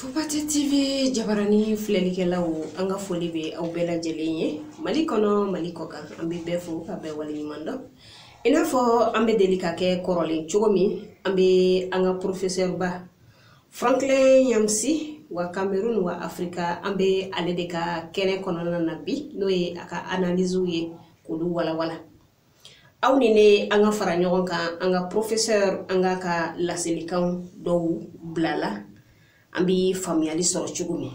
Fobate TV jabarani filɛlikɛlaw an ka foli bɛ aw bɛɛ lajɛlen ye Mali kɔnɔ Mali kɔkan an bɛ bɛɛ fo ka bɛɛ waleɲuman dɔn i n'a fɔ an bɛ deli k'a kɛ kɔrɔlen cogo min an bɛ an ka professeur ba Franklin Nyamsi wa Cameroun wa Afrika an bɛ ale de ka kɛnɛ kɔnɔna na bi n'o ye a ka analysew ye k'olu walawala. aw ni ne an ka fara ɲɔgɔn kan an ka professeur an k'a ka laselikan dɔw bila la an bɛ faamuyali sɔrɔ cogo min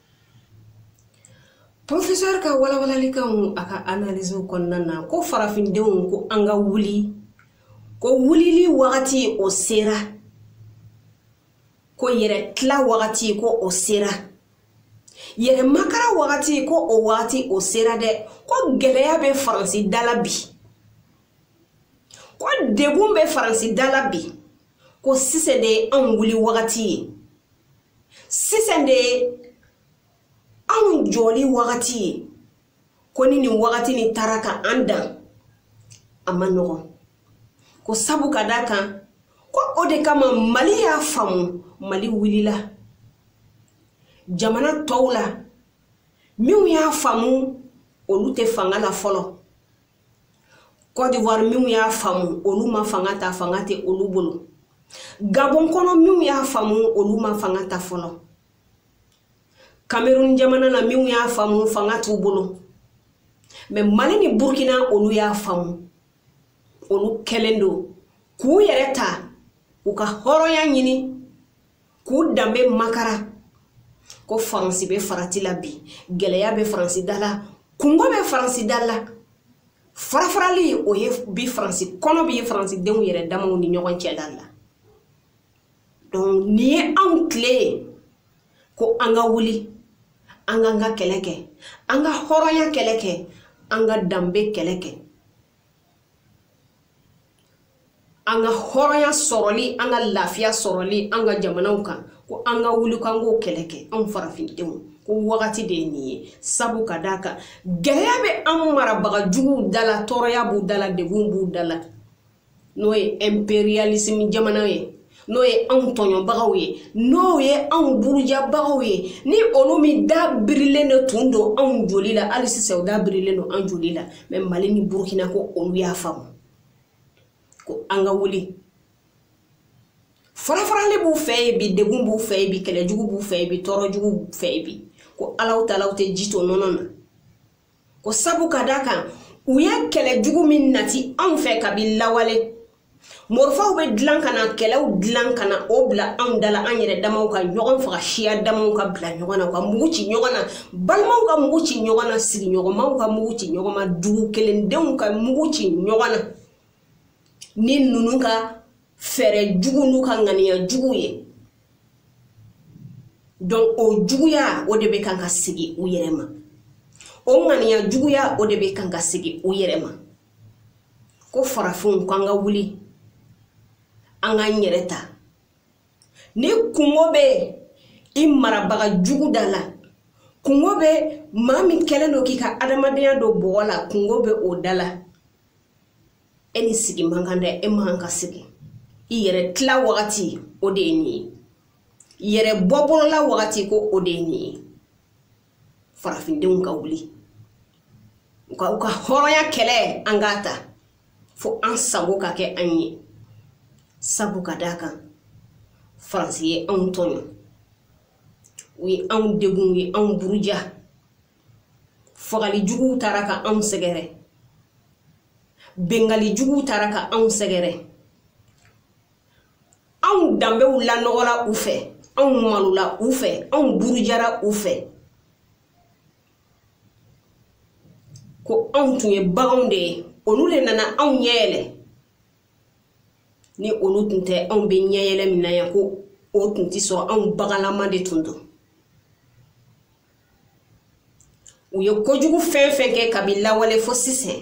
Professeur ka walawalalikanw a ka analyse kɔnɔna na ko farafindenw ko an ka wuli ko wulili wagati o sera ko yɛrɛ tila wagati ko o sera yɛrɛ makara wagati ko o wagati o sera dɛ ko gɛlɛya bɛ faransi da la bi ko degun bɛ faransi da la bi ko sisan de anw wuli wagati ye sisan de anw jɔli wagati ye ko ni nin wagati nin taara ka an dan a man nɔgɔn ko sabu ka d'a kan ko o de kama mali y'a faamu mali wulila jamana tɔw la minw y'a faamu olu tɛ fanga la fɔlɔ Côte d'Ivoire minw y'a faamu olu ma fanga ta fanga tɛ olu bolo Gabon kɔnɔ minw y'a faamu olu ma fanga ta fɔlɔ Cameroun jamana na minw y'a faamu fanga t'u bolo mais Mali ni Burkina olu y'a faamu olu kɛlen don k'u yɛrɛ ta u ka hɔrɔnya ɲini k'u danbe makara ko faransi bɛ farati la bi gɛlɛya bɛ faransi da la kunko bɛ faransi da la farafarali o ye bi faransi kɔnɔ bi faransi denw yɛrɛ damaw ni ɲɔgɔn cɛ da la donc nin ye anw tile ye ko an ka wuli an k'an ka kɛlɛ kɛ an ka hɔrɔnya kɛlɛ kɛ an ka danbe kɛlɛ kɛ an ka hɔrɔnya sɔrɔli an ka lafiya sɔrɔli an ka jamanaw kan ko an ka wuli k'an k'o kɛlɛ kɛ anw farafindenw ko wagati de ye nin ye sabu ka d'a kan gɛlɛya bɛ an marabaga juguw da la tɔɔrɔya b'u da la degun b'u da la n'o ye impérialisme jamana ye n'o ye anw tɔɲɔbagaw ye n'o ye anw burujabagaw ye ni olu min da birilen de tun don anw joli la hali sisan u da birilen don an joli la mais mali ni burukina ko olu y'a faamu ko an ka wuli farafarali b'u fɛ yen bi degun b'u fɛ yen bi kɛlɛjugu b'u fɛ yen bi tɔɔrɔjugu b'u fɛ yen bi ko alaw taala tɛ ji to nɔnɔ na ko sabu ka d'a kan u ye kɛlɛ jugu min nati anw fɛ kabi lawale morifaw bɛ dilan ka na kɛlɛw dilan ka na o bila anw da la an yɛrɛ damaw ka ɲɔgɔn faga siya damaw ka bila ɲɔgɔn na ka mugu ci ɲɔgɔn na balimaw ka mugu ci ɲɔgɔn na sigiɲɔgɔnmaw ka mugu ci ɲɔgɔn ma dugu kelendenw ka mugu ci ɲɔgɔn na ni ninnu ka fɛɛrɛ jugu n'u ka ŋaniya jugu ye donc o juguya o de bɛ kan ka segin u yɛrɛ ma o ŋaniya juguya o de bɛ kan ka segin u yɛrɛ ma ko farafinw ko an ka wuli an k'an yɛrɛ ta ni kunko bɛ i marabaga jugu da la kunko bɛ maa min kɛlen don k'i ka adamadenya don bɔgɔ la kunko bɛ o da la e ni sigi man kan dɛ e man ka sigi i yɛrɛ tila wagati o de ye nin ye yɛrɛ bɔ bolo la wagati ko o de ye nin ye farafindenw ka wuli u ka u ka hɔrɔnya kɛlɛ an k'a ta fo an sago ka kɛ an ye sabu ka d'a kan faransi ye anw tɔɲɔ u ye anw degun u ye anw buruja fagali juguw taara ka anw sɛgɛrɛ bengali juguw taara ka anw sɛgɛrɛ anw danbew lanɔgɔla u fɛ anw malola u fɛ anw burujara u fɛ ko anw tun ye baganw de ye olu de nana anw ɲɛ yɛlɛ ni olu tun tɛ anw bɛ ɲɛ yɛlɛ min na yan ko o tun tɛ sɔrɔ anw baganlama de tun don u ye kojugu fɛn fɛn kɛ kabi lawale fo sisan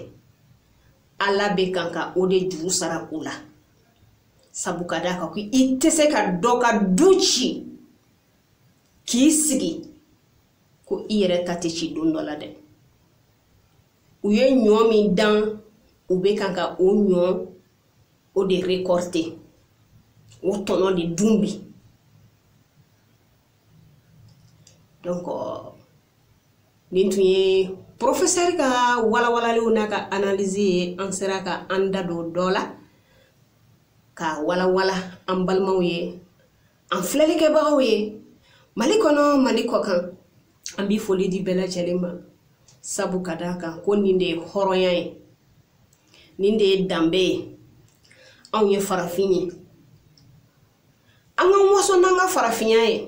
ala bɛ kan ka o de juru sara u la sabu ka d'a kan ko i tɛ se ka dɔ ka du ci k'i sigi ko i yɛrɛ ta tɛ ci don dɔ la dɛ u ye ɲɔ min dan u bɛ kan ka o ɲɔ o de rekɔrite o tɔnɔ de dun bi donc nin tun ye porofesɛri ka walawalaliw n'a ka analizi ye an sera ka an da don dɔ la ka walawala an balimaw ye an filɛlikɛbagaw ye mali kɔnɔ mali kɔkan an bɛ foli di bɛɛ lajɛlen ma sabu ka d'a kan ko nin de ye hɔrɔnya ye nin de ye danbe ye anw ye farafin ye an ka waso n'an ka farafinya ye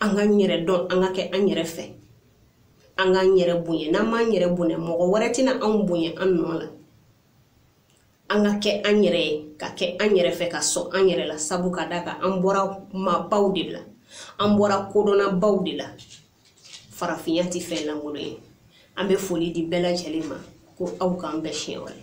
an k'an yɛrɛ dɔn an ka kɛ an yɛrɛ fɛ an k'an yɛrɛ bonya n'an m'an yɛrɛ bonya mɔgɔ wɛrɛ tɛna anw bonya an nɔ la an ka kɛ an yɛrɛ ye ka kɛ an yɛrɛ fɛ ka sɔn an yɛrɛ la sabu ka d'a kan an bɔra maabaw de la an bɔra kodɔnnabaw de la farafinya tɛ fɛn lankolon ye an bɛ foli di bɛɛ lajɛlen ma ko aw k'an bɛn siɲɛ wɛrɛ